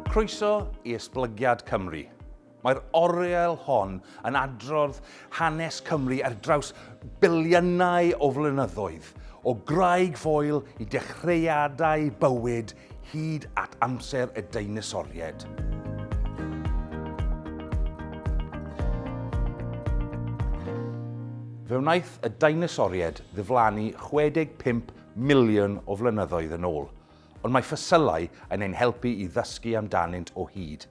Croeso i Esblygiad Cymru. Mae'r oriel hon yn adrodd hanes Cymru ar draws biliynau o flynyddoedd, o graig foel i dechreuadau bywyd hyd at amser y deinosoriaid. Fe wnaeth y deinosoriaid ddiflannu 65 miliwn o flynyddoedd yn ôl, ond mae ffosilau yn ein helpu i ddysgu amdanynt o hyd.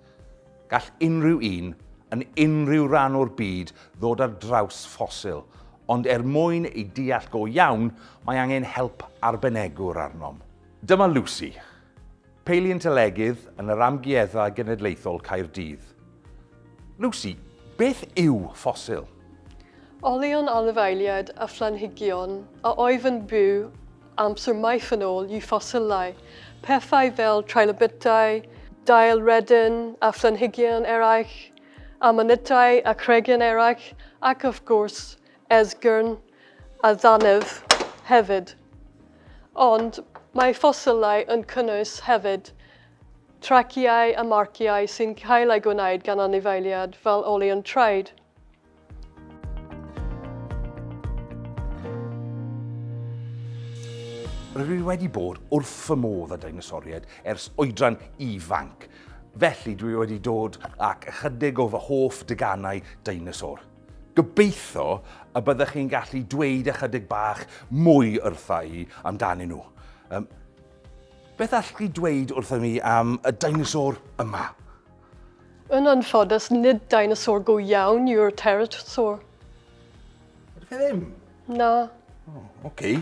Gall unrhyw un, yn unrhyw ran o'r byd, ddod ar draws ffosil, ond er mwyn ei deall go iawn, mae angen help arbenegwr arnom. Dyma Lucy, paleontolegydd yn yr Amgueddfa Genedlaethol Caerdydd. Lucy, beth yw ffosil? Olion anifeiliaid a phlanhigion a oedd yn byw amser maith yn ôl yw ffosilau. Pethau fel trilobytau, dail redyn a phlanhigion eraill, amanitau a chreigion eraill ac wrth gwrs esgyrn a dannedd hefyd, ond mae ffosilau yn cynnwys hefyd traciau a marciau sy'n cael eu gwneud gan anifeiliaid fel olion traed. Rydw i wedi bod wrth fy modd â deinosoriaid ers oedran ifanc, felly dwi wedi dod ac ychydig o fy hoff deganau deinosor. Gobeithio y byddech chi'n gallu dweud ychydig bach mwy wrtha i amdanyn nhw. Um, beth allwch chi dweud wrtho mi am y dinosaur yma? Yn anffodus, nid dinosaur go iawn yw'r pterosaur. Ydych chi ddim? Na. Oh, okay.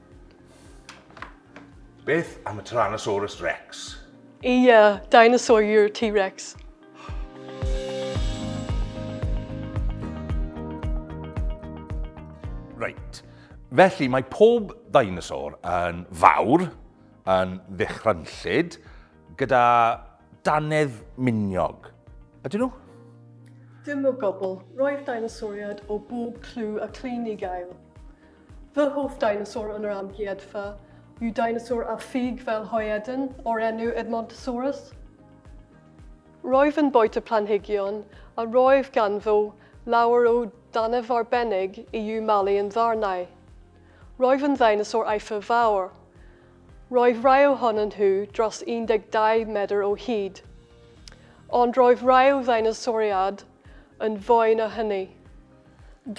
Beth am y Tyrannosaurus Rex? Ia, dinosaur yw'r T-Rex. Reit. Felly mae pob dinosaur yn fawr, yn ddychrynllyd, gyda Dannedd miniog. Ydyn nhw? Dim o gwbl. Roedd deinosoriaid o bob clw a clun i gael. Fy hoff deinosor yn yr amgueddfa yw deinosor â ffug fel hoedyn o'r enw Edmontosaurus. Roedd yn bwyta planhigion a roedd ganddo lawer o dannedd arbennig i'w malu yn ddarnau. Roedd yn ddeinosor eithaf fawr. Roedd rhai ohonyn nhw dros 12 medr o hyd, ond roedd rhai o ddeinosoriaid yn fwy na hynny.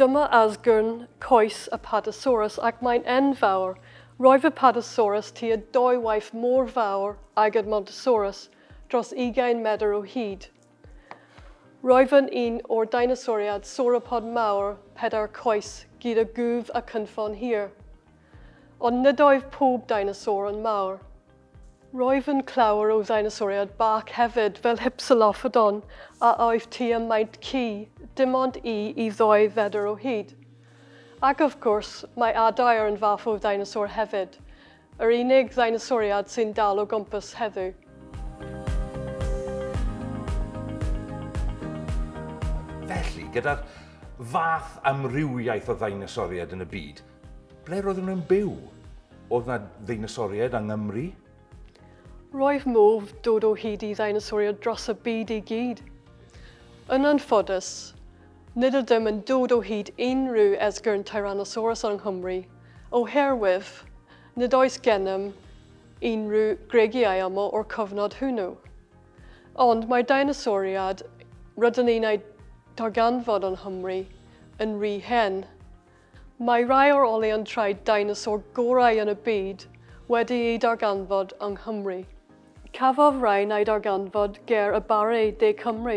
Dyma asgwrn coes y Padosaurus ac mae'n enfawr. Roedd y Padosaurus tua dwy waith mor fawr ag Edmontosaurus, dros 20 medr o hyd. Roedd yn un o'r deinosoriaid sauropod mawr pedair coes gyda gwddf a chynffon hir. Ond nid oedd pob deinosor yn mawr. Roedd yn clawr o ddeinosoriaid bach hefyd fel Hypsilophodon a oedd tua maint ci, dim ond i i ddwy fedr o hyd. Ac of gwrs, mae adair yn fath o ddeinosor hefyd, yr unig ddeinosoriad sy'n dal o gwmpas heddiw. Felly, gyda'r fath amrywiaeth o ddeinosoriaid yn y byd, Ble roedden nhw'n byw? Oedd na ddeinosoriaid yng Nghymru? Roedd modd dod o hyd i ddeinosoriaid dros y byd i gyd. Yn anffodus, nid ydym yn dod o hyd unrhyw esgyrn Tyrannosaurus yng Nghymru, oherwydd nid oes gennym unrhyw gregiau aml o'r cyfnod hwnnw. Ond mae'r deinosoriaid rydyn ni'n eu darganfod yng Nghymru yn rhy hen Mae rhai o'r olion traed deinosor gorau yn y byd wedi eu darganfod yng Nghymru. Cafodd rhain eu darganfod ger y Barre de Cymru,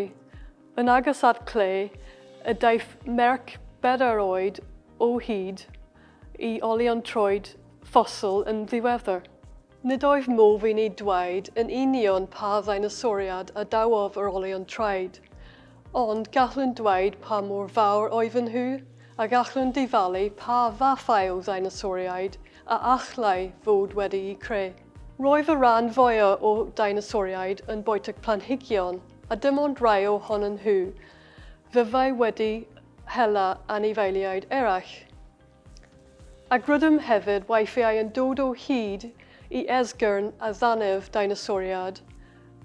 yn agos at cle y daeth merch bedair oed o hyd i olion troed ffosil yn ddiweddar. Nid oedd modd i ni dweud yn union pa ddeinosoriad a dawodd yr olion traed, ond gallwn dweud pa mor fawr oedden nhw, a gallwn dyfalu pa fathau o ddeinosoriaid a allai fod wedi'u creu. Roedd y rhan fwyaf o deinosoriaid yn bwyta planhigion, a dim ond rhai ohonyn nhw fyddai wedi hela anifeiliaid eraill. Ac rydym hefyd weithiau yn dod o hyd i esgyrn a ddannedd deinosoriaid,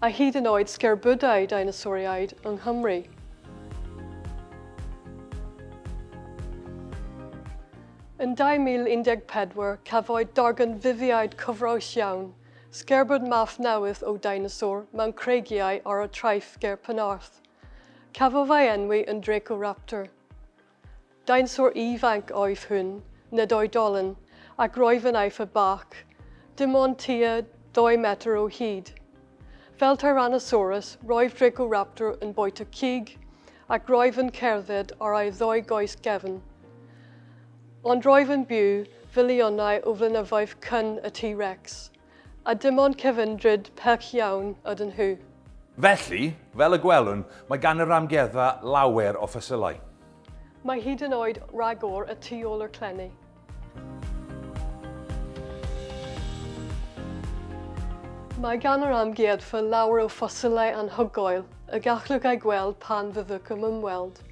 a hyd yn oed sgerbydau deinosoriaid yng Nghymru. Yn 2014, cafwyd darganfyddiad cyffrous iawn, sgerbyd math newydd o deinosor mewn creigiau ar y traeth ger Penarth. Cafodd ei enwi yn Dracoraptor. Deinswr ifanc oedd hwn, nid oedolyn, ac roedd yn eithaf bach, dim ond tua dou metr o hyd. Fel Tyrannosaurus, roedd Dracoraptor yn bwyta cig ac roedd yn cerdded ar ei ddou goes gefn. Ond roedd yn byw filiynau o flynyddoedd cyn y T-Rex. A dim ond cyfan drud perch iawn ydyn nhw. Felly, fel y gwelwn, mae gan yr Amgueddfa lawer o ffosilau. Mae hyd yn oed ragor y tu ôl i'r clenni. Mae gan yr Amgueddfa lawer o ffosilau anhygoel y gallwch eu gweld pan fyddwch yn ymweld,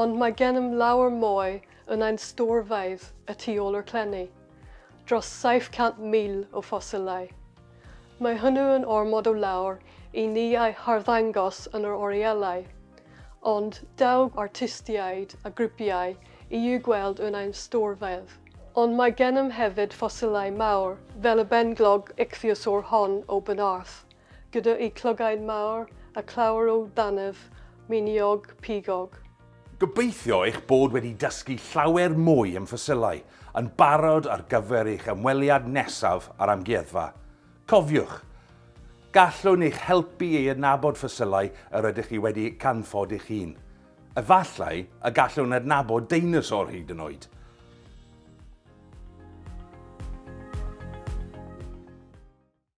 ond mae gennym lawer mwy yn ein storfeydd y tu ôl i'r clenni. dros 700,000 o ffosilau. Mae hwnnw yn ormod o lawer i ni ei harddangos yn yr orielau, ond daw artistiaid a grwpiau i'w gweld yn ein storfeydd. Ond mae gennym hefyd ffosilau mawr fel y benglog ichthyosaur hon o Benarth, gyda'u clygain mawr a chlawr o dannedd miniog pigog. Gobeithio eich bod wedi dysgu llawer mwy am ffosilau, yn barod ar gyfer eich ymweliad nesaf â'r amgueddfa. Cofiwch, gallwn eich helpu i adnabod ffosilau yr ydych chi wedi canfod eich hun. Efallai y gallwn adnabod deinosor hyd yn oed!